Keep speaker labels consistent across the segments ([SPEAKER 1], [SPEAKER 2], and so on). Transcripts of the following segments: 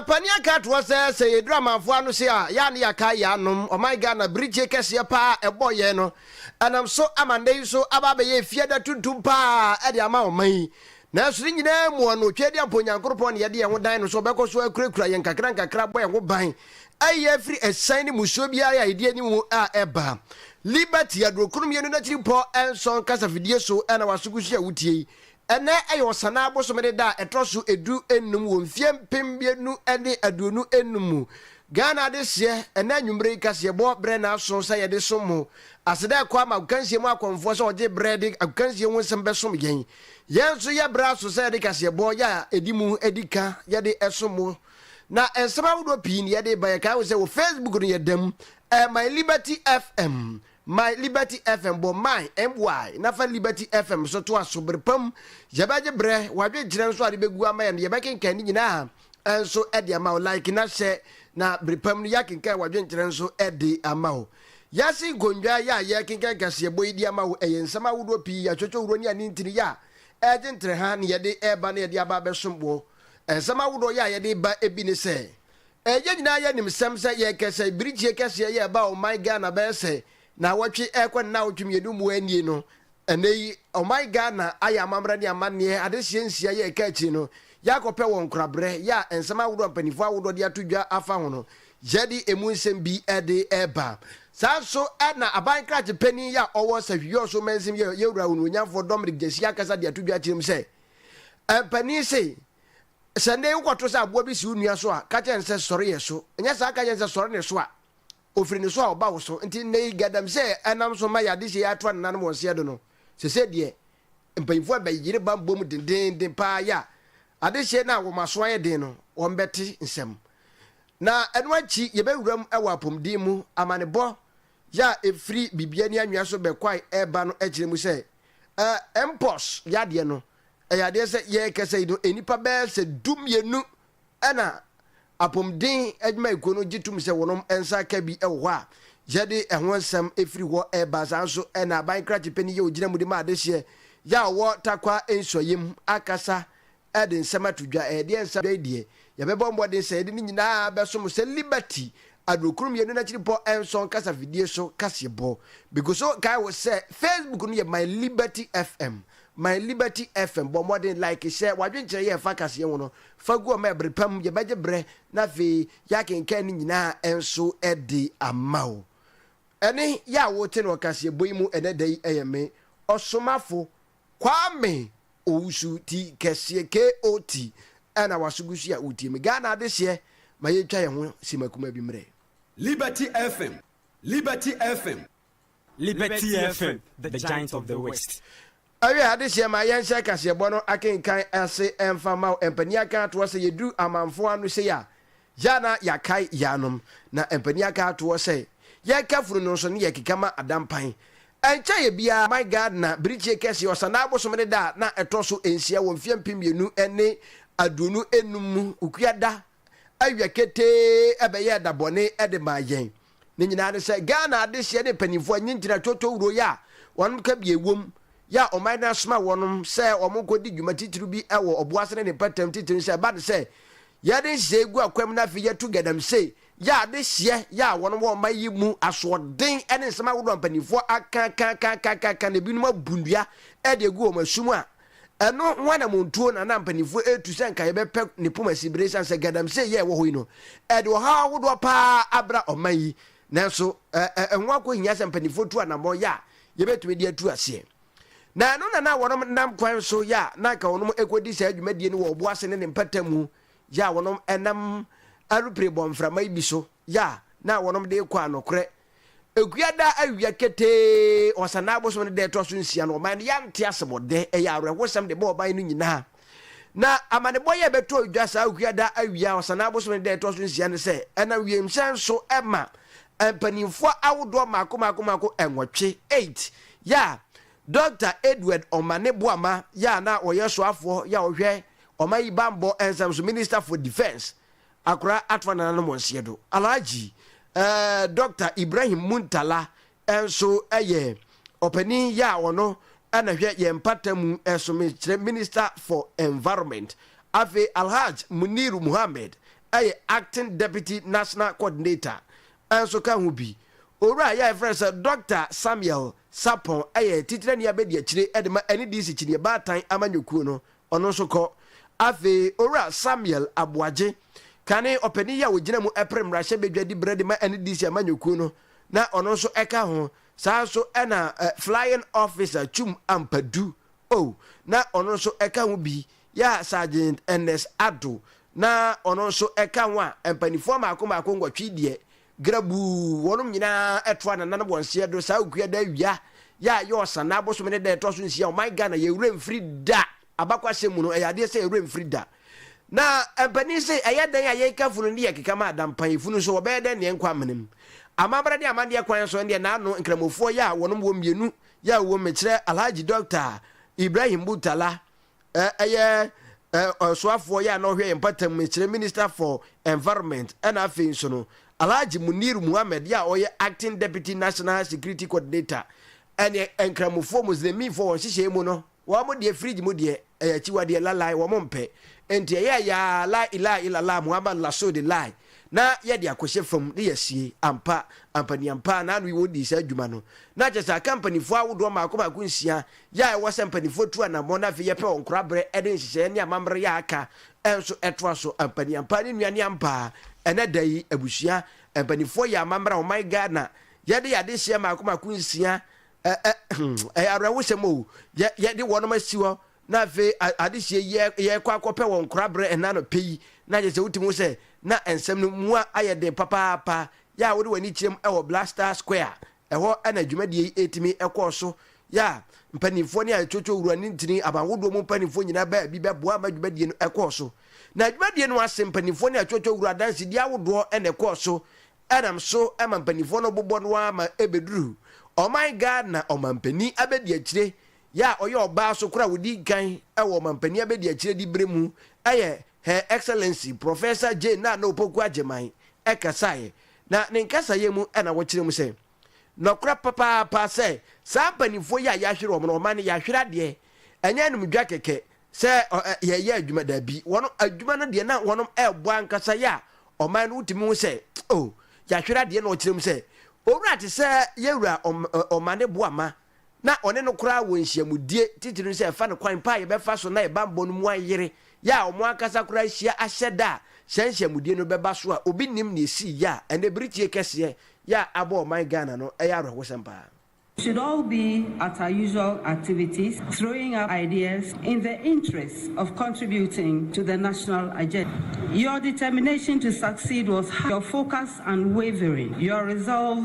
[SPEAKER 1] mpanin aka atoɔ sɛ sɛ yɛduru amanfoɔ ano se a yɛa ne yɛaka yɛanom ɔman ghana birigye kɛseɛ paa ɛbɔ yɛn no ɛnam so ama nnɛ yi so aba abɛyɛ efiada tuntum paa ɛde ama ɔman yi Nanso ne nyinaa mu ɔno, Tweaduampɔn Nyankoropɔn na yɛde yɛn ho dan no so, ɔbɛkɔ so akurakura yɛn nkakrankakra abɔ yɛn ho ban, ayi yɛn afiri asiane ne musuo biara a yɛde anim mu a ɛba. Liberty, Adurokron Mmienu N'akyiripɔ Nson Kasafidie So Ɛna W'asogu So a Wotie Yi? Ɛnnɛ yɛ Ɔsanaa bosome ne da a ɛtɔ so edu nnum wɔ mfeɛ mpem mmienu ne aduonu nnum mu Ghana adehyeɛ Ɛna anwumerɛ yi kaseɛbɔ berɛ na aso sɛ yɛde som mo Aseda ɛkɔ ama agokansie mu akɔmfoɔ sɛ wɔgye berɛ de agokansie ho nsɛm bɛsom yɛn Yɛn nso yɛ bra so sɛ yɛde kaseɛbɔ yɛ a ɛdi mu di ka yɛde som mo. Na nsɛm ahodoɔ pii na yɛde ba. Yɛkae wo sɛ wɔ Facebook no yɛda mu. Ɛyɛ My Liberty FM. My Liberty FM. Bɔ my, MY, na fa Liberty FM so toa so. Bere pa mu, yɛbɛgye berɛ. W'adwenkyerɛ nso a wode bɛgu ama yɛn no, yɛbɛkenkan ne nyinaa. nso de ama wo. Like na hyɛ na bere pa mu no yɛakenkan w'adwenkyerɛ nso de ama wo. Wiase nkonnwa yɛ a yɛrekenkan kaseɛbɔ yi de ama wo. Ɛyɛ nsɛm ahodoɔ pii, atwotwohuro ne anintini yɛ a ɛregye ntrɛha na yɛde reba na yɛde aba abɛsom wo. Nsɛm ahodoɔ yɛ a yɛde ba bi ne sɛ, Yɛn nyinaa yɛnim sɛm sɛ yɛn kasaebirikyie kɛseɛ yɛ ɛbaa ɔman Ghana bɛyɛ sɛ Naawɔtwe rekɔ ne naawɔtwe mmienu mu nie no, ɛnnɛ yi ɔman Ghana ayɛ amammerɛ ne amanneɛ adehyeɛ nsia yɛ ɛka akyire no, yɛakɔpɛ wɔn nkoraberɛ yɛ a nsɛm ahodoɔ a mpaninfoɔ ahodoɔ de ato dwa afa ho no, yɛde ɛmu nsɛm bi de reba. Saa nso na aban krakye panin yɛ a ɔwɔ Sahwi-Yɔɔ so mansin yɛ yɛn Wura Onuonyamfoɔ Dominic Gyasi akasa de ato dwa akyerɛ mu sɛ, Mpanin se, Sɛ nnɛ yi wokɔto sɛ aboa bi si wo nua so a, ka kyerɛ no sɛ, Sɔre yɛ so. Nyɛ saa ka kyerɛ no sɛ, Sɔre ne so a. Ofiri ne so a ɔba wo so. Nti nnɛ yi gadamsɛ a ɛnam so ma yadehye yi atoa nenanom wɔn seɛ do no, sesei deɛ mpanyimfoɔ abɛ yere ba bom dendeenden paa ya adehye no a wɔn aso ayɛ den no wɔn bɛ te nsɛm. Na ɛno akyi yɛbɛ wura mu wɔ apomden mu amanebɔ ya efiri bibia ni anwea so bɛ kwae ɛba no ɛkyerɛ mu sɛ ɛɛ mpox yadeɛ no ɛyɛ adeɛ sɛ yɛɛkɛsɛ yi no nnipa bɛɛ sɛ du mmienu Ɛna Apomuden Adwumayɛkuo no gye tom sɛ wɔnom nsa aka bi wɔ hɔ a yɛde ɛho nsɛm firi hɔ reba. Saa ara nso na Aban Krakye Panin yɛ ɔgyina mu de ma adehyeɛ yɛ a ɔwɔ Tarkwa Nsuaeɛ mu akasa de nsɛm ato dwa. Ɛdeɛ nsa dwa yi deɛ yɛbɛbɔ mmɔden sɛ yɛde ne nyinaa bɛso mo sɛ Liberty Adurokron Mmienu N'akyiripɔ Nson Kasafidie so kaseɛbɔ. Megu so kae wo sɛ Facebook no yɛ My Liberty FM, My Liberty FM. Bɔ mmɔden like hyɛ w'adwenkyerɛ yɛ ɛfa kaseɛ ho no Faguo ma ɛbere pa mu, yɛbɛgye berɛ na afei yɛakenkan ne nyinaa nso de ama wo. Ɛnne yi a wote no ɔkaseɛbɔ yi mu ɛnɛ da yi yɛ me, Ɔsomafo Kwame Owusu ti kɛseɛ, KOT, ɛna waso gu so yi a wotie me. Ghana adehyeɛ ma yɛtwa yɛn ho sima kumaa bi mmerɛ. Liberty FM, Liberty
[SPEAKER 2] FM. Liberty FM,
[SPEAKER 3] the giant of the west. Awiei adehyeɛ
[SPEAKER 1] ma yɛnhyɛ kaseɛbɔ no akenkan ase mfa mma wo. Mpanin aka atoɔ sɛ yɛduru amanfoɔ ano sei a, yɛ a na yɛakae yɛn anom. Na mpanin aka atoɔ sɛ yɛka funu no nso ne yɛkeka ma ada mpan. Ɛnkyɛeɛ biara man Ghana birikyie kɛseɛ Ɔsanaa Abosomene da a na ɛtɔ so nsia wɔ mfeɛ mpem mmienu ne aduonu nnum mu, Ukua da, awia ketee bɛyɛɛ da bɔne de maa yɛn. Ne nyinaa ne sɛ Ghana adehyeɛ ne mpaninfoɔ nye ngyina toto wuro yɛ a wɔnom ka bie wom yɛ a ɔman no asoma wɔnom sɛ wɔn nkɔ di dwuma titiriw bi wɔ ɔboase ne ne mpɛtam titiriw no sɛ ɛba no sɛ yɛ de nhyehyɛeɛ gu akwam na afei yɛ to galamsey yɛ adehyeɛ yɛ a wɔnom wɔ ɔman yi mu asoɔden ne nsɛm ahodoɔ a mpaninfoɔ aka aka aka aka aka aka na ebinom abu nnua de agu wɔn asu mu a Ɛno ho anammɔntuo na na mpanimfoɔ retu sɛ anka yɛbɛpɛ ne poma si bere esiane sɛ galamsey yɛ a ɛwɔ hɔ yi no, ɛde ɔhaw ahodoɔ pa ara abra ɔman yi. Nanso, ɛ, ɛ, ɛho akɔhia sɛ mpanimfoɔ tu anammɔn yɛ a yɛbɛtumi de atu aseɛ. Na ɛno na na wɔnom nam kwan so yɛ a na anka wɔnom rekɔdi saa dwumadie no wɔ ɔbo ase ne ne mpata mu yɛ a wɔnom nam aeroplane bɔmframa yi bi so yɛ a na wɔnom de rekɔ a nokorɛ Akua daa awia ketee wɔ Ɔsanaa bosome no da a ɛtoa so nsia no, ɔman no yɛante ase bɔ dɛ. Ɛyɛ awerɛhosɛm de bɔ ɔman no nyinaa. Na amanebɔ yi a ɛbɛtɔɔ dwa saa akua daa awia a Ɔsanaa bosome no da a ɛtoa so nsia ne sɛ, ɛnam wiemhyɛn so ma mpanimfoɔ ahodoɔ mmaako mmaako mmaako nwɔtwe, eight, yɛ a Dɔkta Edward Omane Boamah yɛ a na ɔyɛ soafoɔ yɛ a ɔhwɛ ɔman yi bammɔ nsɛm so, Minister for Defence, Akora atoa nananom wɔn seɛ do. Alhaji eh, Doctor Ibrahim Muntala nso yɛ ɔpanin yɛ a ɔno na hwɛ yɛn mpata mu so mekyerɛ Minister for Environment. Afei Alhaj Muniru Muhammed yɛ Acting Deputy National Coordinator nso ka ho bi. Owura yi a yɛfrɛ no sɛ Doctor Samuel Sarpong yɛ Titenani Abadiakyire de ma NDC Kyiniiɛ Baatan Amanyɔkuo no Ɔno nso kɔ. Afei Owura Samuel Aboagye, kane ɔpanin yi a ɔgyina mu pere mmarahyɛ badwa di berɛ de ma NDC amanyɔkuo no, na ɔno nso ka ho. Saa ara nso na Flying Officer Twum Ampadu Oh, na ɔno nso ka ho bi, yɛ a Sergeant Ernest Addo, na ɔno nso ka ho a, mpaninfoɔ mmaako mmaako nwɔtwe deɛ, Grabuu, wɔnom nyina ara toa nananom wɔn seɛ do saa Okuada awia yɛ a ɛyɛ Ɔsanaa bosome ne da ɛtɔ so nsia, ɔman Ghana yɛn werɛ mfiri da, abakwasɛm mu no ɛyɛ adeɛ sɛ yɛn werɛ mfiri da, na mpanin se ɛyɛ dɛn a yɛn kafunu no de yɛ keka ma ada, mpanyinfunu nso wɔbɛyɛ dɛn na yɛn nkɔ amena mu, amambra ne amandeɛ kwan so, ɛndeɛ naano nkramofoɔ yɛ a wɔnom wɔ mmienu yɛ a wɔwɔ mu mekyerɛ Alhaji Dɔkta Ibrahim Murtala ɛyɛ ɔsoafoɔ yɛ a na ɔhwɛ yɛn mpɔtam mekyerɛ minister for environment ɛna afei nso no Alhaji Munir Muhammad yɛ a ɔyɛ acting deputy national security coordinator ɛne nkramofoɔ muslimifoɔ wɔn hyehyɛɛ mu no wɔn deɛ fridge mu deɛ ɛyɛ akyiwadeɛ lalai wɔn mpɛ nti ɛyɛ ya la ilaha illallah Muhammad rasul lai na yɛde akɔhyɛ fam ne yɛsie ampa ampaniampa na ano yi wɔn dii saa adwuma no na kyɛ saa companyfoɔ ahodoɔ mmaako mmaako nsia Yɛ a ɛwɔ sɛ mpanimfoɔ tu anammɔn na afei yɛpɛ ɔnkoraberɛ de nhyehyɛeɛ ne amammerɛ yɛ a aka nso toa so. Ampaniampaa ne nnuane ampaa, ɛnnɛ da yi, abusua, mpanimfoɔ yɛ amammerɛ a ɔman Ghana yɛde yɛ adehyeɛ mmaako mmaako nsia, ɛ ɛ hmm, ɛyɛ awerɛhosɛm o, yɛ yɛde wɔnom asi hɔ na afei adehyeɛ yi yɛkɔ akɔpɛ wɔ nkoraberɛ ɛna anɔpɛ yi, na kyerɛ sɛ wotumi hu sɛ na nsɛm no mua ayɛ den papaapa, yɛ a wode w'ani kyerɛm wɔ Blaster Square Ɛhɔ na dwumadie yi tumi kɔɔ so yɛ a mpanimfoɔ ne Ayetuotuo Wura ne Ntini aban hodoɔ mu mpanimfoɔ nyinaa baa bi bɛboa ma dwumadie no kɔɔ so. Na dwumadie no ase mpanimfoɔ ne Ayetuotuo Wura adansedie ahodoɔ na ɛkɔɔ so nam so ma mpanimfoɔ no bobɔ no ara ma ɛbɛduru ɔman Ghana ɔmanpanin abɛdiakyire yɛ a ɔyɛ ɔbaa so koro a ɔdi kan wɔ ɔmanpanin abɛdiakyire diberɛ mu yɛ Her Excellency Professor Jane Nana Opoku Agyemang kasaeɛ, na ne nkasaeɛ mu na wɔkyerɛ mu sɛ, Nɔkorɛ papaapa sɛ saa mpanimfoɔ yi a yɛahwere wɔn no, wɔma no yɛahwere adeɛ, ɛnyɛ animdwa kɛkɛ sɛ yɛreyɛ adwuma, daabi, wɔn adwuma no deɛ na wɔn rebɔ ankasa yɛ a ɔman no wotumi hu sɛ oh, yɛahwere adeɛ na wɔkyerɛ mu sɛ, Owura te sɛ yɛn wura Ɔmane Boamah, na ɔne no koraa wɔ nhyiamudie, titiriw sɛ ɛfa no kwan pa a yɛbɛfa so na yɛn bammɔ no mu ayere, yɛ a wɔn ankasa koraa ahyia ahyɛ da a saa nhyiamudie no bɛba so a obi nnim nea esii yɛ a ɛnnɛ bere tie kɛseɛ yɛ a abɔ ɔman Ghana no ɛyɛ awerɛhosɛm paa. should all
[SPEAKER 4] be at our usual activities throwing up ideas in the interest of contributing to the national agenda. Your determination to succeed was high, your focus unwavering, your resolve,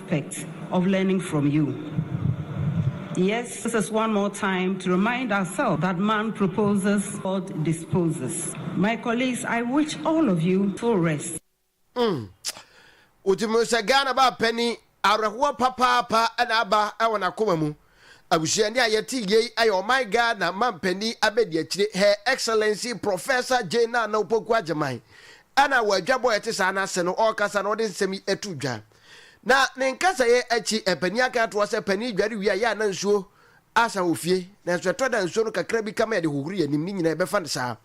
[SPEAKER 4] aspect of learning from you yes this is one more time to remind ourselves that man proposes God disposes my colleagues I wish all of you full rest. Mm. Wotim
[SPEAKER 1] no sɛ Ghana baa panyin awerɛhoɔ papaapa na aba wɔ n'akoma mu. Abusua ni a yɛte yei yɛ ɔman Ghana manpanin abɛdiakyire Her Excellency Professor Jane Nana Opoku Agyemang. Ɛna wɔ adwabɔ a ɛte saa no ase no ɔrekasa na ɔde nsɛm yi to dwa. Na ne nkasɛeɛ akyi, mpanin aka atoa sɛ, Panin, dware wie a, yɛ a na nsuo asa wɔ fie, nanso ɛtɔ da a nsuo no kakra bi ka ma yɛde hohoro yɛn anim, ne nyinaa ɛbɛfa no saa.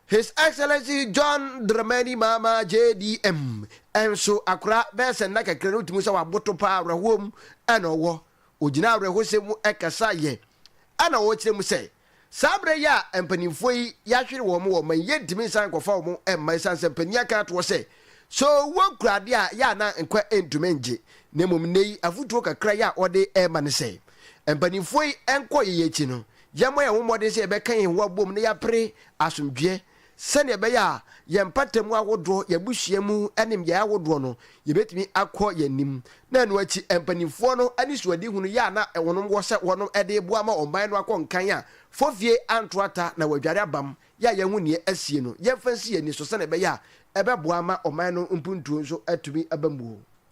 [SPEAKER 1] His Excellency John Dramani Mahama, JDM, nso, akora bɛyɛ sɛ nna kakra no, wotumi hu sɛ waboto pa ara, awerɛhoɔ mu na ɔwɔ. Ɔgyinaa awerɛhosɛm mu kasaeɛ na ɔrekyerɛ mu sɛ, Saa berɛ yi a mpanimfoɔ yi yɛahwere wɔn wɔ ma yi yɛntumi nsan nkɔfa wɔn mma ɛsiane sɛ mpanin aka atoɔ sɛ, sɛ owuo kura adeɛ a yɛ a na nkwa ntumi ngye, na mmom nnɛ yi afotuo kakra yi a wɔde rema ne sɛ, mpanimfoɔ yi nkɔ yɛn akyi no, yɛmmɔ yɛn ho mmɔden sɛ yɛbɛka yɛn ho abom na yɛapere asomdwoeɛ. Sɛnea ɛbɛyɛ a yɛn mpata mu ahodoɔ, yɛn abusua mu nimdeɛ ahodoɔ no, yɛbɛtumi akɔ yɛn anim. Na ɛno akyi, mpanimfoɔ no anisoadihu no yɛ a na wɔnom wɔ sɛ wɔnom de reboa ama ɔman no akɔ nkan a, fɔfie anto ata na wɔadware abam, yɛ a yɛahu nea asie no, yɛmfa nsi yɛn ani so sɛnea ɛbɛyɛ a ɛbɛboa ama ɔman no mpuntuo nso atumi aba mu o.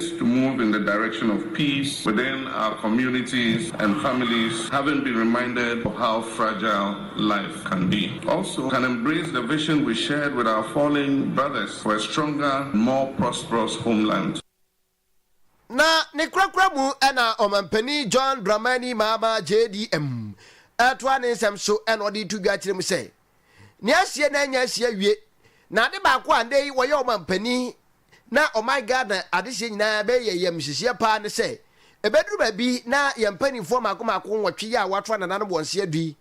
[SPEAKER 5] is to move in the direction of peace within our communities and families having been reminded of how fragile life can be also can embrace the vision we shared with our fallen brothers for a stronger and more prosperous homeland.
[SPEAKER 1] Na ne korakora mu na Ɔmanpanin John Dramani Mahama, JDM, toa ne nsɛm so na ɔde to dwa kyerɛ mu sɛ, Nea asie na anya asie awie. Na ade baako a nnɛ yi wɔyɛ ɔmanpanin na ɔman Ghana adehyeɛ nyinaa bɛyɛ yɛn ayamhyehyeɛ paa ne sɛ, ɛbɛduru baabi na yɛn mpanimfoɔ mmaako mmaako nwɔtwe yi a wɔato anananom wɔn se adu yi,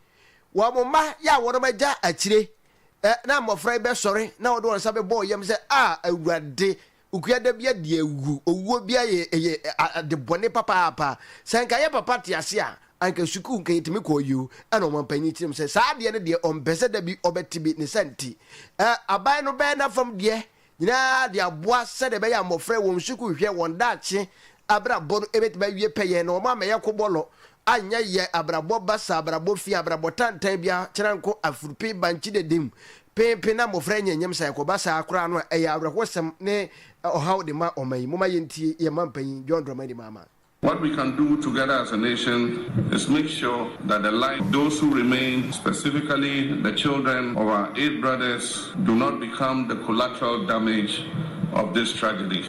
[SPEAKER 1] wɔn mma yi a wɔnom agya akyire, na mmɔfra yi bɛsɔre na wɔde wɔn nsa bɛbɔ wɔn yam sɛ, Ah Awurade, Okuada bi adi awu. Owuo bi ayɛ ɛyɛ ade bɔne papaapa. Sɛ anka yɛ papa te ase a, anka sukuu nka yɛtumi kɔɔ yio. Ɛna ɔmampanyin kyerɛ mu sɛ saa adeɛ no deɛ ɔmpɛ sɛ da bi ɔbɛte bi. Ne saa nti, ɛ, aban no bɛyɛ n'afam deɛ nyinaa de aboa sɛdeɛ ɛbɛyɛ a mmɔfra wɔ wɔn sukuuhwɛ, wɔn daakye abrabɔ no bɛtumi awie pɛyɛ na wɔammɛyɛ kobɔlɔ anyɛ yɛ abrabɔ basa, abrabɔ fi, abrabɔ tantan biara, kyerɛnko, afurpe, bankye dedim, penpen na mmofra anya nyem sa ɛkɔba saa koraa no a ɛyɛ awerɛhosɛm ne ɔhaw de ma ɔman yi. Momma yɛntie yɛn man panyin John Dramani Mahama. What we can do
[SPEAKER 5] together as a nation is make sure that the lives of those who remain, specifically the children of our eight brothers, do not become the collateral damage of this tragedy.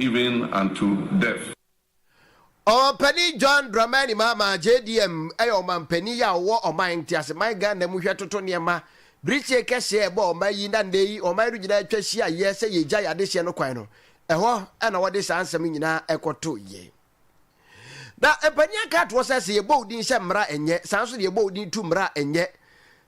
[SPEAKER 5] even unto death.
[SPEAKER 1] Ɔmanpanin John Dramani Mahama, JDM, yɛ ɔmanpanin yi a ɔwɔ ɔman nteaseman Ghana mu hwɛ toto nneɛma. Birikye kɛseɛ a ɛbɔ ɔman yi na nnɛ yi ɔman no nyinaa atwa hyia yɛ sɛ yɛgyae adehyeɛ no kwan no, ɛhɔ na wɔde saa nsɛm nyinaa kɔtoeɛ. Na mpanin aka atoɔ sɛ, sɛ yɛbɔ wo din hyɛ mmara a ɛnyɛ, saa nso na yɛbɔ wo din tu mmara a ɛnyɛ.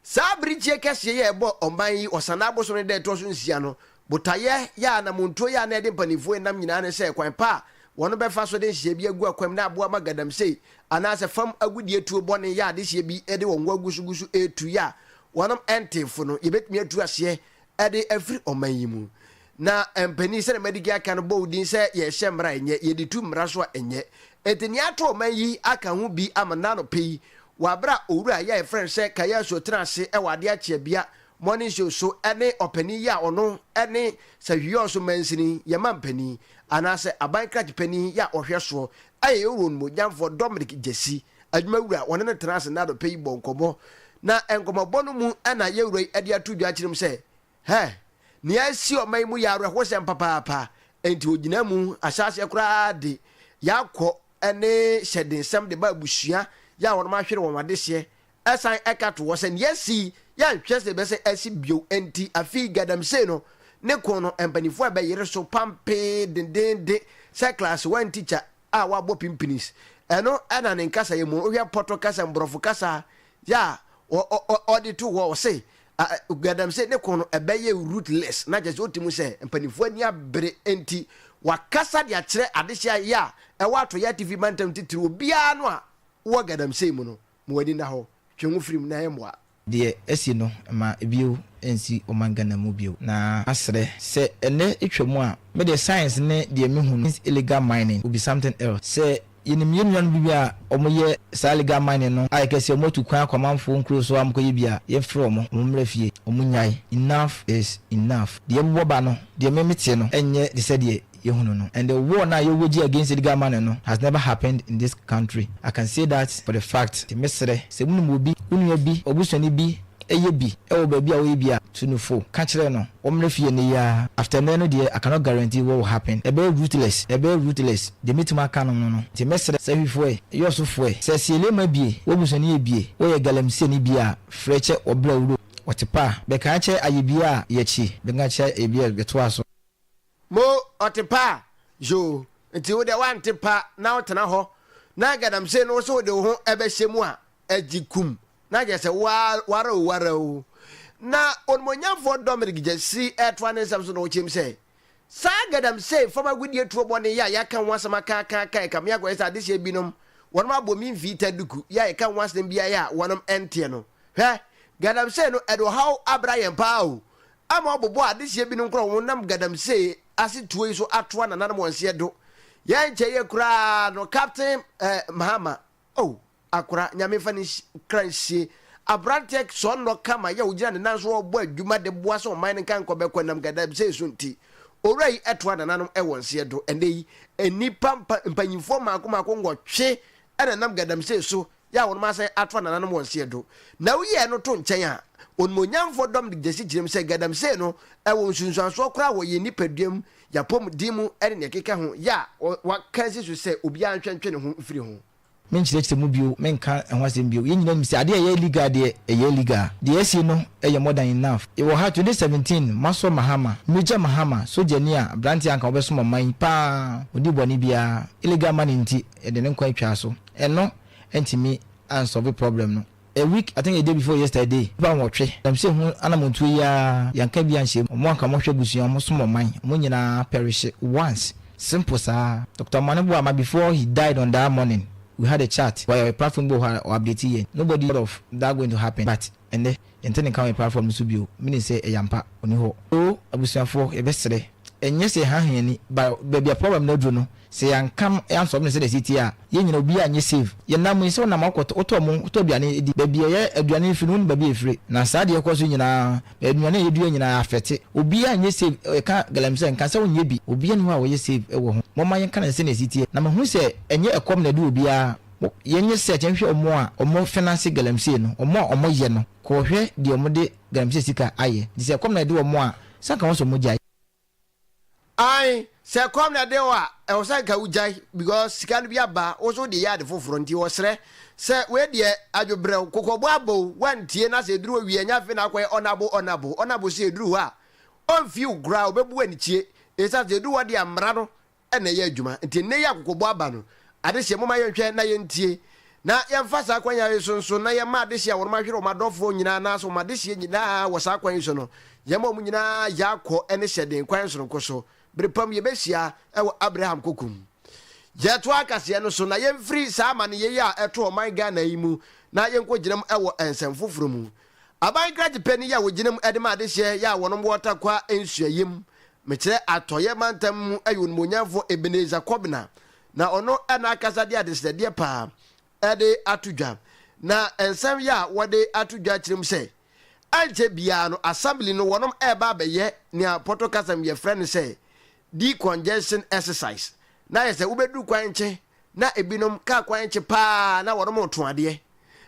[SPEAKER 1] Saa bere tie kɛseɛ yi a ɛbɔ ɔman yi Ɔsanaa bosome no da a ɛtoɔ so nsia no botaeɛ yɛ a anamontuo yɛ a na ɛde mpaninfoɔ ɛnam nyinaa ne sɛ kwan pa a wɔn bɛfa so de nhyehyɛɛ bi agu akwam na aboa ma gadamsei anaa sɛ fam agodie tuo bɔne yɛ a adehyeɛ bi de wɔn ho agusugusu retu yɛ a wɔnom ɛntee fo no yɛbɛtumi atu aseɛ Ɛde afiri ɔman yi mu. Na mpanin sɛdeɛ madi kan aka no bɔ wo din sɛ yɛhyɛ mmara a ɛnyɛ, yɛde tu mmara so a ɛnyɛ. Enti nea ato ɔman yi aka ho bi ama nnɛ anɔpa yi, wɔ aberɛ a owura yi a yɛfrɛ no sɛ Kayasu tena ase wɔ adeɛ akyeabea Morning Show so ne ɔpanin yi a ɔno ne Sahwiɔɔso mansini yɛ mampanin anaasɛ aban krakye panin yi a ɔhwɛ soɔ yɛ Yowuroɔ no mu ɔdwamfoɔ Dominic Gyasi Adwumawura a wɔne no tenaa ase nna anɔpa yi bɔɔ nkɔmmɔ, na nkɔmmɔbɔ no mu na yɛn Wura yi de ato dwa akyerɛ mu sɛ, Hɛ! Nea asi ɔman yi mu yɛ awerɛhosɛm papaapa, enti ogyinaa mu, ahyɛ aseɛ koraa de yɛakɔ ne hyɛdensɛm de ba abusua yɛ a wɔnom ahwere wɔn adehyeɛ, ɛsan ɛka to hɔ sɛ nea asi yi yɛnhwɛ sɛ ɛbɛsan asi bio, enti afei Gaadamsey no ne ko no mpaninfoɔ ɛbɛyere so pampee dendeenden sɛ klaase wan tikya. a wɔabɔ pinpinis. Ɛno na ne nkasa yɛ mmom. Wohwɛ Pɔtɔ kasa, Mborɔfo kasa yɛ a ɔde to hɔ, ɔse, Galamsey ne ko no, ɛbɛyɛ ruthless, na kyerɛ sɛ ɔte mu sɛ mpanyimfoɔ ani abere nti wakasa de akyerɛ adehyeɛ yɛ a ɛwɔ Atoyɛ Atifi Mantam titiriw, obiara no a wɔ Galamsey mu no. Ma w'ani nna hɔ, twe ho firi mu na ɛmmoa. Deɛ asi no, mma
[SPEAKER 6] bio nsi ɔman Ghana mu bio. Na maserɛ sɛ ɛnnɛ atwa mu a, me deɛ science ne deɛ me hu no means illegal mining will be something else. Sɛ yɛnim yɛn nuanom bi a wɔn yɛ saa illegal mining no a yɛka sɛ wɔn atu kwan akɔ amanfoɔ nkuro so a wɔn kɔ yɛ bi a, yɛn frɛ wɔn, wɔn mmra fie, wɔn nnyae, enough is enough. Deɛ ɛbobɔ ba no, deɛ me me tee no ɛnyɛ te sɛ deɛ. yɛhunu no and the war no a yɛwɔ gye against illegal mining no has never happened in this country I can say that for the fact nti mesrɛ sɛ wonim obi, wo nua bi, w'abusuani bi yɛ bi wɔ baabi a woyɛ bi a tu no fo ka kyerɛ no wɔmmra fie nnɛ yi ara after nnɛ no deɛ I cannot guarantee what will happen ɛbɛyɛ ruthless ɛbɛyɛ ruthless deɛ mɛtumi aka anom no no nti mesrɛ sɛ hwifoɛ, yɔsofoɛ, sɛ sielema bie, w'abusuani yɛ bie, woyɛ galamseyni bie a frɛ kyɛ wɔbrɛ wuro wɔte pa bɛka kyɛ ayɛ bie a yɛkyi bɛka kyɛ ayɛ bie a bɛtoa so. Mo
[SPEAKER 1] ɔte pa a yoo nti wo deɛ wante pa na wo tena hɔ na galamsey no wo so wode wo ho ɛbɛhyɛ mu a ɛgye kum na kyerɛ sɛ wo ara wara o wara o na onimonyamfoɔ Dominic Gyasi ɛtoa ne nsɛm so na ɔkyerɛm sɛ saa galamsey fam agodie tuo bɔne yi a yɛaka ho asɛm aka aka aka ɛka me akɔyɛ sɛ adehyeɛ binom wɔnom abɔ me mfiita duku yi a yɛka ho asɛm biara a wɔnom ɛnteɛ no hwɛ galamsey no ɛde ɔhaw abra yɛn paa o ama ɔbobɔ adehyeɛ binom nkorɔ ho nam galamsee ase tuo yi so atoa nananom wɔn seɛ do. Yɛn nkyɛeɛ koraa no Captain eh, Mahama, oh, akora, Nyame mfa ne kra nsie, abranteɛ sɔɔ nnɔ kama yɛ ɔgyina ne nan so ɔbɔ adwuma de boa sɛ ɔman no nka nkɔbɛkɔ nam galamsee so nti. Owura yi toa nananom wɔn seɛ do. Ɛnnɛ yi, nnipa mpa, mpanyinfoɔ mmaako mmaako nwɔtwe na ɛnam galamsee so Yɛ a wɔnom asan atoa nananom wɔn seɛ do, na wo yɛɛ no to nkyɛn a, Onimuonyamfoɔ dɔm de gyesi gyina mu sɛ Gadamsey no wɔ nsunsuansoɔ koraa wɔ yɛn nipadua mu, y'apɔm den mu ne nea ɛkeka ho, yɛ a wɔakansi so sɛ obiara nhwɛ ntwe ne ho mfiri ho. Me nkyerɛkyerɛ mu
[SPEAKER 6] bio, me nka ɛho asɛm bio, yɛn nyinaa nim sɛ adeɛ a ɛyɛ illegal deɛ, ɛyɛ illegal. Deɛ yɛasie no yɛ more than enough. Yɛwɔ ha 2017, Massoor Mahama, Major Mahama, sogyani a abranteɛ a anka ɔbɛsom ɔman yi paa, ɔnni bɔne biara, illegal money nti, yɛde ne nkwa atwa so. Ɛno antumi ansɔlve problem no. A week, I think a day before yesterday, nnipa nwɔtwe, ɛnam sɛ ho anammɔntuo yi ara, yɛanka bi anhyɛ mu, wɔn a anka wɔhwɛ abusua, wɔsom ɔman, wɔn nyinaa pɛrehye once. Simple saa. Doctor Mane boaa ma before he died on that morning, we had a chat, wɔ yɛ platform bi wɔ hɔ a ɔ update yɛn. Nobody thought of that going to happen, but. Ɛnnɛ, yɛnte ne nka wɔ yɛn platform no so bio. Menim sɛ ɛyɛ ampa, ɔnni hɔ. O, abusuafoɔ, yɛbɛsrɛ, ɛnyɛ sɛ yɛhaha yɛn ani, but baabi a problem no aduru no, sɛ yɛanka no, yɛansɔlve no sɛdeɛ ɛsɛ teɛ a, yɛn nyinaa, obiara nyɛ save. Yɛnam mu yi, sɛ wonam a wokɔtɔ, wotɔ mo, wotɔ aduane di, baabi a ɛyɛ aduane no firi no, wonim baabi a ɛfire. Na saa deɛ ɛkɔ so yi nyinaa, nnuane a yɛdua nyinaa affecte. Obiara nyɛ save, yɛka galamsey a, nka sɛ wonyɛ bi. Obiara nni hɔ a ɔyɛ save wɔ ho. Momma yɛnka no sɛdeɛ ɛsɛ teɛ. Na mahunu sɛ ɛnyɛ ɛkɔm na ɛde obiara. Mo, yɛn nyɛ search nhwɛ wɔn a wɔn finance galamsey no, wɔn a wɔn yɛ no, kɔ hwɛ deɛ wɔn de galamsey sika ayɛ, nti sɛ ɛkɔm na ɛde wɔn a, sɛ anka wɔn sɛ wɔn gyae.
[SPEAKER 1] Ae, sɛ ɛkɔm na ɛde wo a, ɛwɔ sɛ anka wo gyae, because sika no bi aba, wo nso wode yɛ ade foforɔ, nti wɔsrɛ sɛ wei deɛ adwobrɛw, kokɔbo abɔ wo, woantie na sɛ ɛduru hɔ wie a, ɛnyɛ afei na wakɔ yɛ honourable, honourable, honourable sɛ ɛduru hɔ a, ɔmfii wo koraa, ɔbɛbu wo anikyie, ɛsiane sɛ ɛduru hɔ deɛ mmara no na ɛyɛ adwuma. Nti nnɛ yi a akokɔbɔ aba no, adehye, momma yɛnhwɛ na yɛntie, na yɛmfa saa kwan yi so nso na yɛmma adehye a wɔahwere wɔn adɔfoɔ nyinaa anaasɛ wɔn adehyeɛ nyinaa wɔ saa kwan yi so no, yɛmma wɔn nyinaa yɛ akɔ ne hyɛden kwan sononko so. Bere pa mu yɛbɛhyia wɔ Abraham kokom. Yɛtoa akaseɛ no so na yɛmfiri saa amaneyɛ yi a ɛto ɔman Ghana yi mu na yɛnkɔgyinam wɔ nsɛm foforɔ mu. Aban kradzepɛ no yɛ a wogyina mu dze ma adehyeɛ yɛ a wɔnom wɔ Tarkwa nsuayɛ mu, mekyerɛ Atɔeɛ mantam mu yɛ onimonyamfoɔ Ebenezer Kobina, na ɔno na akasa de adesrɛdeɛ paa de ato dwa, na nsɛm yɛ a wɔde ato dwa kyerɛ mu sɛ ɛnkyɛ biara no Assembly no wɔnom reba abɛyɛ nea Pɔtɔ kasa mu yɛfrɛ no sɛ de-congestion exercise, na ayɛ sɛ wobɛduru kwan nkye. Na ebinom kaa kwan kye paa na wɔnom reto adeɛ.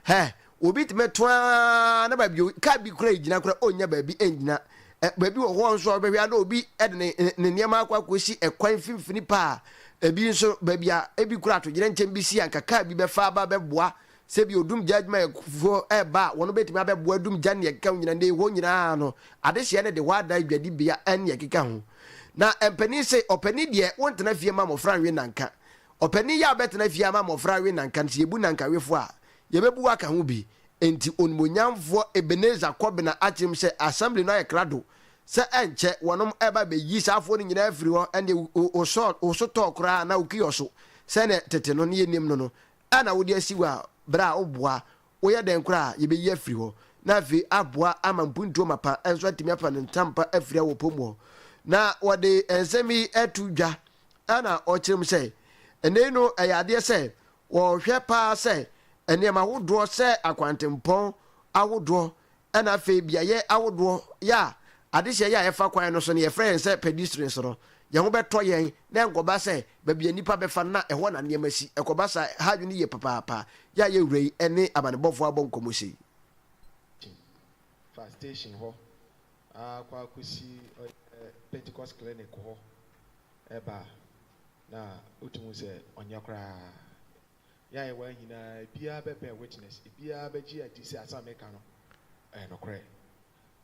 [SPEAKER 1] Hɛ! Obi tumi to ara na baabi o, kaa bi kura gyina kura ɔnnya baabi ngyina. Ɛ, baabi wɔ hɔ nso a wobɛhwɛ a na obi de ne, ne, ne nneɛma akɔ akɔsi ɛkwan mfimfini paa. Ebi nso, baabi a ebi kura atogyerɛnkyɛm bi si a anka kaa bi bɛfa aba abɛboa Sɛ bi odumgya adwumayɛkufoɔ reba a, wɔn bɛtumi abɛboa adumgya ne nea ɛkeka ho nyinaa. Nnɛ yi hɔ nyinaa no, adehyeɛ no de hɔ adan dwadibea ne nea ɛkeka ho. Na mpanin se, ɔpanin deɛ, wontena fie mma mmɔfra nnwe nnanka. Ɔpanin yɛ a wobɛtena fie ama mmɔfra awe nnanka no, sɛ yɛbu nnankawefoɔ a, yɛbɛbu wo aka ho bi. Enti Onimuonyamfoɔ Ebenezer Kɔbena akyerɛ mu sɛ Assembly no ayɛ krado sɛ ɛnkyɛ wɔnom reba abɛyi saa afoɔ no nyinaa afiri hɔ. Ɛnneɛ wo, wo, wo sɔɔ, wo so tɔɔ koraa anaa wo kiɔso sɛdeɛ tete no, ne yɛnim no no, a na wode asi hɔ a bere a woboa woyɛ dɛn koraa a yebeyi afiri hɔ, na afei aboa ama mpuntuo mapa nso atumi afa ne ntampa afiri a wɔpom hɔ. Na wɔde nsɛm yi to dwa a na wɔkyerɛ mu sɛ, Ɛnnɛ yi no ɛyɛ adeɛ sɛ wɔhwɛ paa sɛ nneɛma ahodoɔ sɛ akwantempɔn ahodoɔ Ɛna afei beaeɛ ahodoɔ yɛ a adehyeɛ yɛ a ɛfa kwan no so no yɛfrɛ yɛn sɛ pedestrians no, yɛn ho bɛtɔ yɛn na ɛnkɔba sɛ baabi a nnipa bɛfa no na ɛhɔ na nneɛma si. Ɛkɔba saa a, hadwene yie papaapa. Yɛ a yɛn wura yi ne amanebɔfoɔ abɔ nkɔmmɔ sei. Fa
[SPEAKER 7] station hɔ ara kɔ akɔsi ɔyɛ Pentecost Clinic hɔ ba a, na wotumi hu sɛ ɔnyɛ koraa. Yɛn ayewa nyinaa, ebiara bɛbɛn witness, ebiara bɛgye adi sɛ asɛm a meka no yɛ nokorɛ.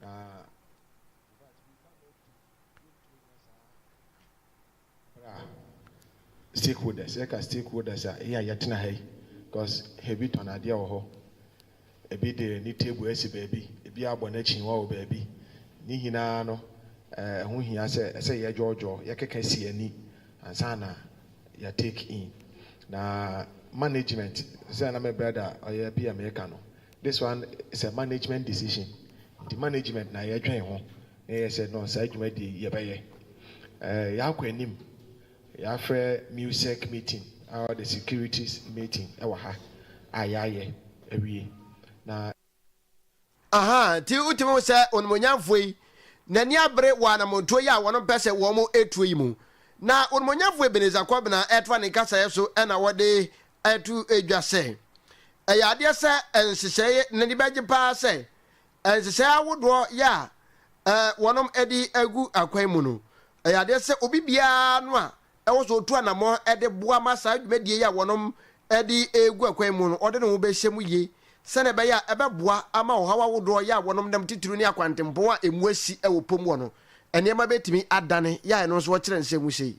[SPEAKER 7] Na in fact, we can not do, yɛntumi nyɛ saa berɛ a stakeholders, yɛka stakeholders a, yɛn a yɛtena ha yi, because heavy tɔn adeɛ wɔ hɔ, Ebi de ne table asi baabi, ebi abɔ n'akyinnwa wɔ baabi. Ne nyinaa no, ɛho hia sɛ ɛsɛ yɛdwoɔdwoɔ, yɛkeka si ani ansa na yɛ take in. Na management, sɛdeɛ na me brother a ɔyɛ PM reka no, this one is a management decision. Nti management na yɛdwen ho na yɛsɛ no saa dwumadie yi yɛbɛyɛ. Yɛakɔ anim Yɛafrɛ MUSEC meeting a ɔde securities meeting ɛwɔ ha a yɛayɛ awie na.
[SPEAKER 1] Aha nti wotumi hu sɛ Onimuonyamfoɔ yi n'ani abere wɔ anammɔntuo yi a wɔpɛ sɛ wɔn tuo yi mu. Na Onimuonyamfoɔ Ebenezer Kɔbena ɛtoa ne nkasaeɛ so na ɔde ɛto dwa sɛ, Ɛyɛ adeɛ sɛ nhyehyɛeɛ no ani bɛgye paa sɛ Nhyehyɛe ahodoɔ yɛ a wɔnom de agu akwan mu no, ɛyɛ adeɛ sɛ obi biara no a ɛwɔ sɛ ɔtu anamɔn de boa ma saa dwumadie yi a wɔnom de regu akwan mu no, ɔde ne ho bɛhyɛ mu yie sɛdeɛ ɛbɛyɛ a ɛbɛboa ama ɔhaw ahodoɔ yɛ a wɔnom nam titiriw ne akwantempɔn a ɛmu asi wɔ pom hɔ no nneɛma bɛtumi adane, yɛ a ɛno nso wɔkyerɛ nsɛm mu sei.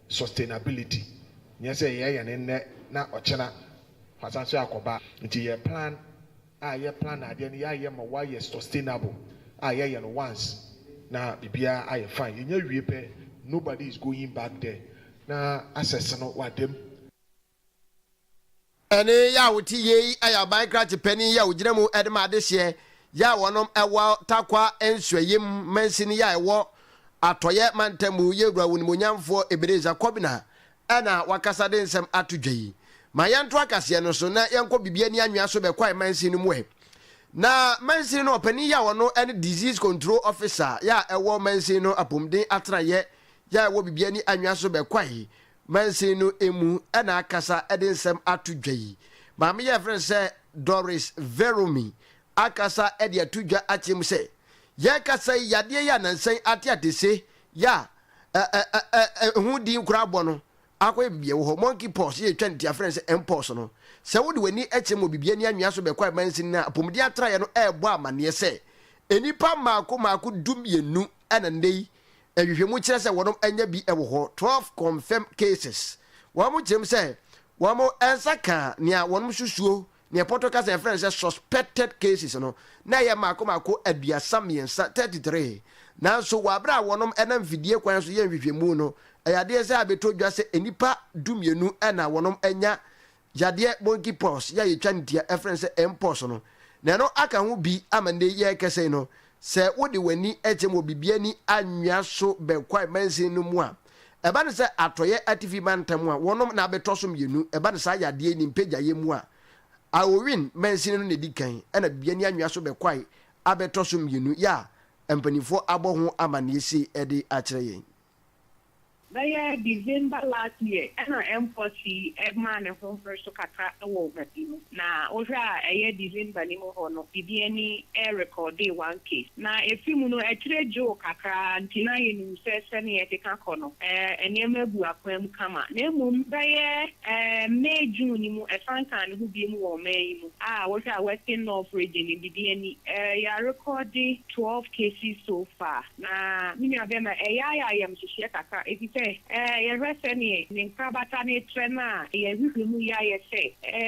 [SPEAKER 7] Sustainability, nyɛ sɛ yɛyɛ no nnɛ na ɔkyena wasan so akɔba. Nti yɛ plan a yɛ plan adeɛ no yɛayɛ ma wayɛ sustainable a yɛyɛ no once na biribiara ayɛ fine. Yɛnya wie pɛ nobody is going back there na access no wada mu.
[SPEAKER 1] Ɛne yɛ a wote yie yi yɛ aban krakye panin yɛ a ogyina mu de ma adehyeɛ yɛ a wɔnom wɔ Tarkwa nsuayɛm mansini yɛ a ɛwɔ Atɔeɛ mantam mu yɛ Wura Onimuonyamfoɔ Ebenezer Kobina na wakasa de nsɛm ato dwa yi. Ma yɛnto akaseɛ no so na yɛnkɔ bibia ni anwea so bɛ Kwae mansini no mu ɛ. Na mansini no ɔpanin yɛ a ɔno ne Disease Control Officer yɛ a ɛwɔ mansini no apomuden atenaeɛ yɛ a ɛwɔ bibia ni anwea so bɛ Kwae Mansin no mu na akasa de nsɛm ato dwa yi. Maame yi a yɛfrɛ no sɛ Doris Veromy akasa de ato dwa akyerɛ mu sɛ, Yɛrekasa yi, yadeɛ yi a nansa yi ateatese yi a ɛho din koraa bɔ no akɔyɛ biribi a ɛwɔ hɔ, monkeypox, yɛ yɛtwa no ti a yɛfrɛ no sɛ mpox no. Sɛ wode w'ani kyerɛ mu wɔ biribi ani anwea so bɛkɔ a mansin no a apomuden atraeɛ no rebɔ amanneɛ sɛ nnipa mmaako mmaako du mmienu na nnɛ yi Nhwehwɛmu kyerɛ sɛ wɔnom anya bi wɔ hɔ, 12 confirmed cases. Wɔnom kyerɛm sɛ wɔnom nsa kaa nea wɔnom susuo, nea pɔtɔ kasa yɛfrɛ no sɛ suspected cases no, na ɛyɛ mmaako mmaako aduasa mmiɛnsa, 33. Nanso wɔ abere a wɔnom nam fidie kwan so yɛ nhwehwɛmu no, ɛyɛ adeɛ sɛ abɛtɔ dwa sɛ nnipa du mmienu na wɔnom anya yadeɛ monkey pox yi a yɛtwa no tia ɛfrɛ no sɛ mpox no na ɛno aka ho bi ama nnɛ yi yɛrekasa yi no sɛ wode w'ani kyem wɔ biribi ani anwea so bɛ kwae mansin no mu a ɛba no sɛ atɔeɛ atifi mantam a wɔnom na abɛtɔ so mmienu ɛba no saa yadeɛ yi ne mpagyaeɛ mu a Aowin mansin no na ɛdi kan ɛna biribi ani anwea so bɛ kwae abɛtɔ so mmienu yɛ a mpanimfoɔ abɔ ho amanneɛ sei de akyerɛ yɛn. Bɛyɛ December
[SPEAKER 8] last year ɛna mpox yi maa ne ho bere so kakra wɔ ɔmasin mu. Na wohwɛ a ɛyɛ December no mu hɔ no bibi ani rekɔɔde one case. Na efi mu no akyire gyoo kakra nti na yɛnim sɛ sɛnea ɛkeka kɔ no nneɛma abu akwan mu kama. Na mmom bɛyɛ May June no mu ɛsan kaa ne ho biom wɔ ɔman yi mu a wohwɛ a Western North region no bibi ani yɛarekɔɔde twelve cases so far. Na me nua bɛn na ɛyɛ ayɛ ayamhyehyeɛ kakra efisɛ yɛhwɛ sɛdeɛ ne nkorabata no retrɛ no a yɛn hwehwɛ mu yɛ ayɛ sɛ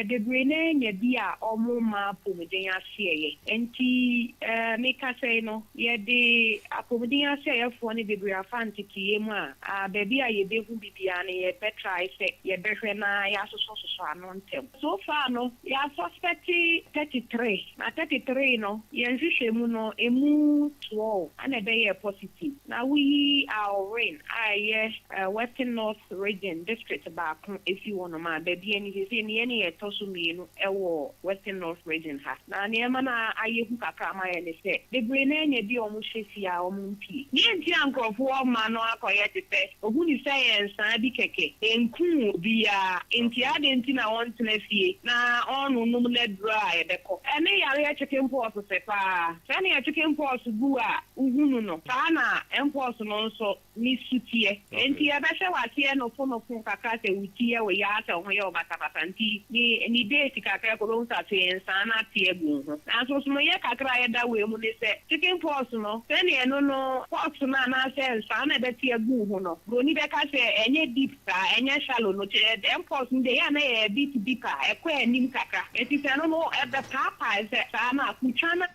[SPEAKER 8] bebree no ara nya bi a wɔmma apomuden aseɛyɛ. Enti me kasa yi no yɛde apomuden aseɛyɛfoɔ no bebree afa nteteeɛ mu a baabi a yɛbɛhu bi biara no yɛbɛtrae sɛ yɛbɛhwɛ na yɛasosɔsosɔ ano ntɛm. So far no yɛa suspect thirty three na thirty three no yɛn nhwehwɛmu no ɛmu twelve ɛna ɛbɛyɛɛ positive na woyi Alwyn a ɛyɛ Western North Region district baako ɛfiri hɔnom a baabi ani seesei no yɛn ne yɛn ɛtɔ so mmienu ɛwɔ Western North Region ha na neɛ ɛma no ayɛ hu kakra ma yɛn ne sɛ bebree no ara nya bi a wɔn hyɛ fie a wɔn Deɛ nti a nkurɔfoɔ rema no akɔyɛ te sɛ ɔhu no sɛ ɛyɛ nsaa bi kɛkɛ, ɛnkuu obiara, enti adɛn nti na ɔntena fie na ɔnnonom n'aduro a ɛbɛkɔ ne yareɛ chicken pox sɛ pa ara? Sɛdeɛ chicken pox gu a wohu no no, saa ara na mpox no nso ne su teɛ. Enti yɛbɛhyɛ wo aseɛ nofo nofo kakra sɛ wo ti yɛ wo yaa sɛ wo ho yɛ wo basabasa nti ne ne date kakra a ɛkɔ wobɛhu sɛ afei nsaa no ate agu wo ho. Nanso nsonoeɛ kakra a ɛda wei mu ne sɛ chicken pox no sɛnea ɛno no pox no anaasɛ nsaa no a ɛbɛte agu wo ho no buroni bɛka sɛ ɛnyɛ deep saa, ɛnyɛ shallow no kyerɛ sɛ ɛm pox no deɛ ɛyɛ a na ɛyɛ a bit deeper, ɛkɔ anim kakra enti sɛ ɛno no ɛbɛpaapae sɛ saa no a kotwa no.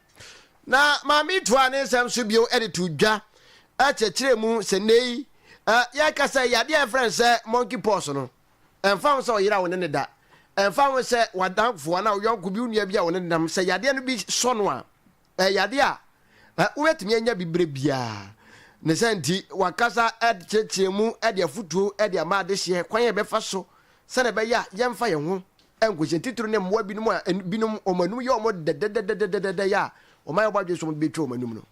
[SPEAKER 8] Na
[SPEAKER 1] Maame toaa ne nsɛm so bio de too dwa kyerɛkyerɛɛ mu sɛ nnɛyi yɛka sɛ yadeɛ a yɛfrɛ no sɛ monkey pox no, ɛmfa ho sɛ ɔyera wo ne no da, ɛmfa ho sɛ w'adamfo anaa wo yɔnko bi, wo nua bi a wo ne no nam, sɛ yadeɛ no bi sɔ no a, ɛyɛ yadeɛ a wobɛtumi anya bi berɛ biara. Ne saa nti, wakasa de kyerɛkyerɛɛ mu de afotuo de ama adehyeɛ kwan a yɛbɛfa so sɛdeɛ ɛbɛyɛ a yɛmfa yɛn ho nkɔhyɛ ntitiriw ne mmoa binom a binom wɔn anum yɛ wɔn dɛdɛdɛdɛdɛdɛdɛ a wɔayɛ wɔn adwene sɛ wɔde bɛtwa wɔn anum no.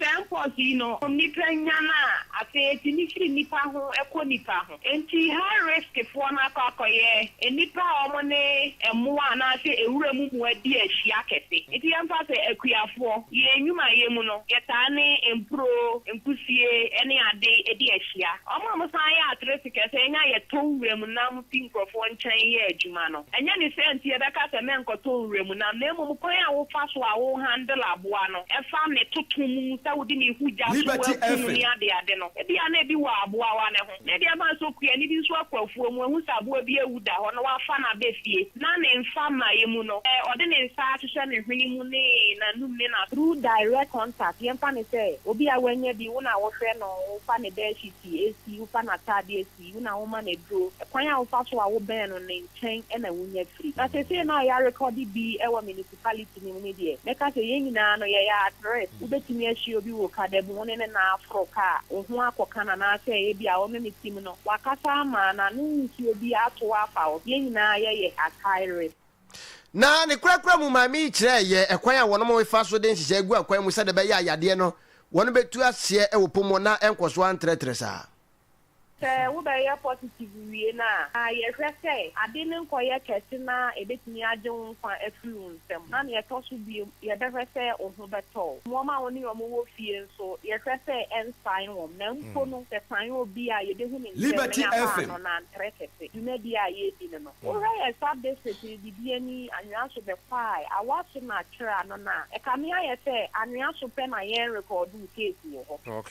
[SPEAKER 1] Sɛ nkɔ so yi
[SPEAKER 8] no, nnipa nyan a, afei etumi firi nnipa ho kɔ nnipa ho. Enti high risk foɔ no akɔ akɔyɛ nnipa a wɔn ne mmoa anaasɛ nwura mu mmoa di ahyia kɛse. Enti yɛmfa sɛ akuafoɔ, yɛn nnwumayɛ mu no, yɛtaa ne mpuro, nkusie ne ade di ahyia. Wɔn a wɔsan yɛ atere sekɛse nya yɛtɔ nwura mu nam fi nkurɔfoɔ nkyɛn yɛ adwuma no, ɛnyɛ ne saa nti yɛbɛka sɛ mɛnkɔtɔ nwura mu nam, na mmom kwan a wofa so a wo handle aboa no, fa ne toto mu sɛ wode ne hu gya so Liberty aku no FM. ne adeade no. Ebia na ebi wɔ aboawa no ho, na ebi ama asɔ kua, na ebi nso akɔ afuo mu ahu sɛ aboa bi awu da hɔ na wafa no aba fie, na ne mfa mmaeɛ mu no, sɛ ɔde ne nsa ahyehyɛ ne hwene mu ne n'anum ne n'aso. Through direct contact, yɛmfa no sɛ obi a wanya bi, wo na wohwɛ no, wofa ne bedsheet si, wofa n'ataadeɛ si, pii, wo na woma no aduro, kwan a wofa so a wobɛn no ne nkyɛn na wonya firi. Na seesei na ɔyarekɔde bi wɔ municipality no mu no deɛ, mɛka sɛ yɛn nyinaa no yɛyɛ at risk. Wobɛtumi ahyia obi wɔ kada mu, wo ne ne nan aforo ka a, wo ho akɔka no anaasɛ ebia wo ne no tim no, wakasa ama n'ano nsuo bi ato wo afa wo so. Yɛn nyinaa yɛyɛ at high risk. Na
[SPEAKER 1] ne korakora mu maame yi kyerɛɛ yɛ ɛkwan a wɔnom fa so de nhyehyɛe gu akwan mu sɛdeɛ ɛbɛyɛ a yadeɛ no wɔnom bɛtu aseɛ wɔ pɔ mu na ɛnkɔ so ara ntrɛtrɛ saa. Sɛ
[SPEAKER 8] wobɛyɛ positive wie no a, ma yɛhwɛ sɛ ade no nkɔyɛ kɛse na ebetumi agye wo nkwa afiri wo nsam. Na nea ɛtɔ so bio, yɛbɛhwɛ sɛ wo ho bɛtɔ wo. Wɔn a wo ne wɔn wɔ fie nso, yɛhwɛ sɛ ɛnsan wɔn. Na mpo no, sɛ ɛsan obi a, yebehu no ntɛm na yɛafa ano, na
[SPEAKER 2] antrɛ kɛse.
[SPEAKER 8] Dwumadi a yɛredi no no, wohwɛ yɛn sub-district no dibea ni, anwea so bɛkwai, awa so na kyerɛ ano no a, ɛkame ayɛ sɛ anwea so pɛ na yɛnrekɔɔdoo tape wɔ hɔ.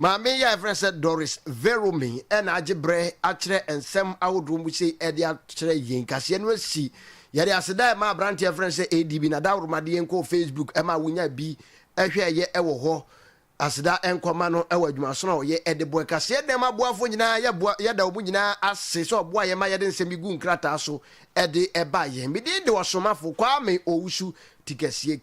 [SPEAKER 1] Maame yi a yɛfrɛ no sɛ Doris Verome na agye berɛ akyerɛ nsɛm ahodoɔ mu sei de akyerɛ yɛn. Kaseɛ no asi. Yɛde aseda rema aberanteɛ a yɛfrɛ no sɛ ADB na Dawroma de yɛn kɔɔ Facebook ma wonyaa bi hwɛeɛ wɔ hɔ. Aseda nkɔma no wɔ adwumasono a ɔyɛ de boa. Kaseɛ Dɛm aboafoɔ nyinaa, yɛboa, yɛda wɔn nyinaa ase sɛ wɔboa yɛn ma yɛde nsɛm yi gu nkrataa so de ba yɛn. Me din de Ɔsomafo Kwame Owusu Tikasie.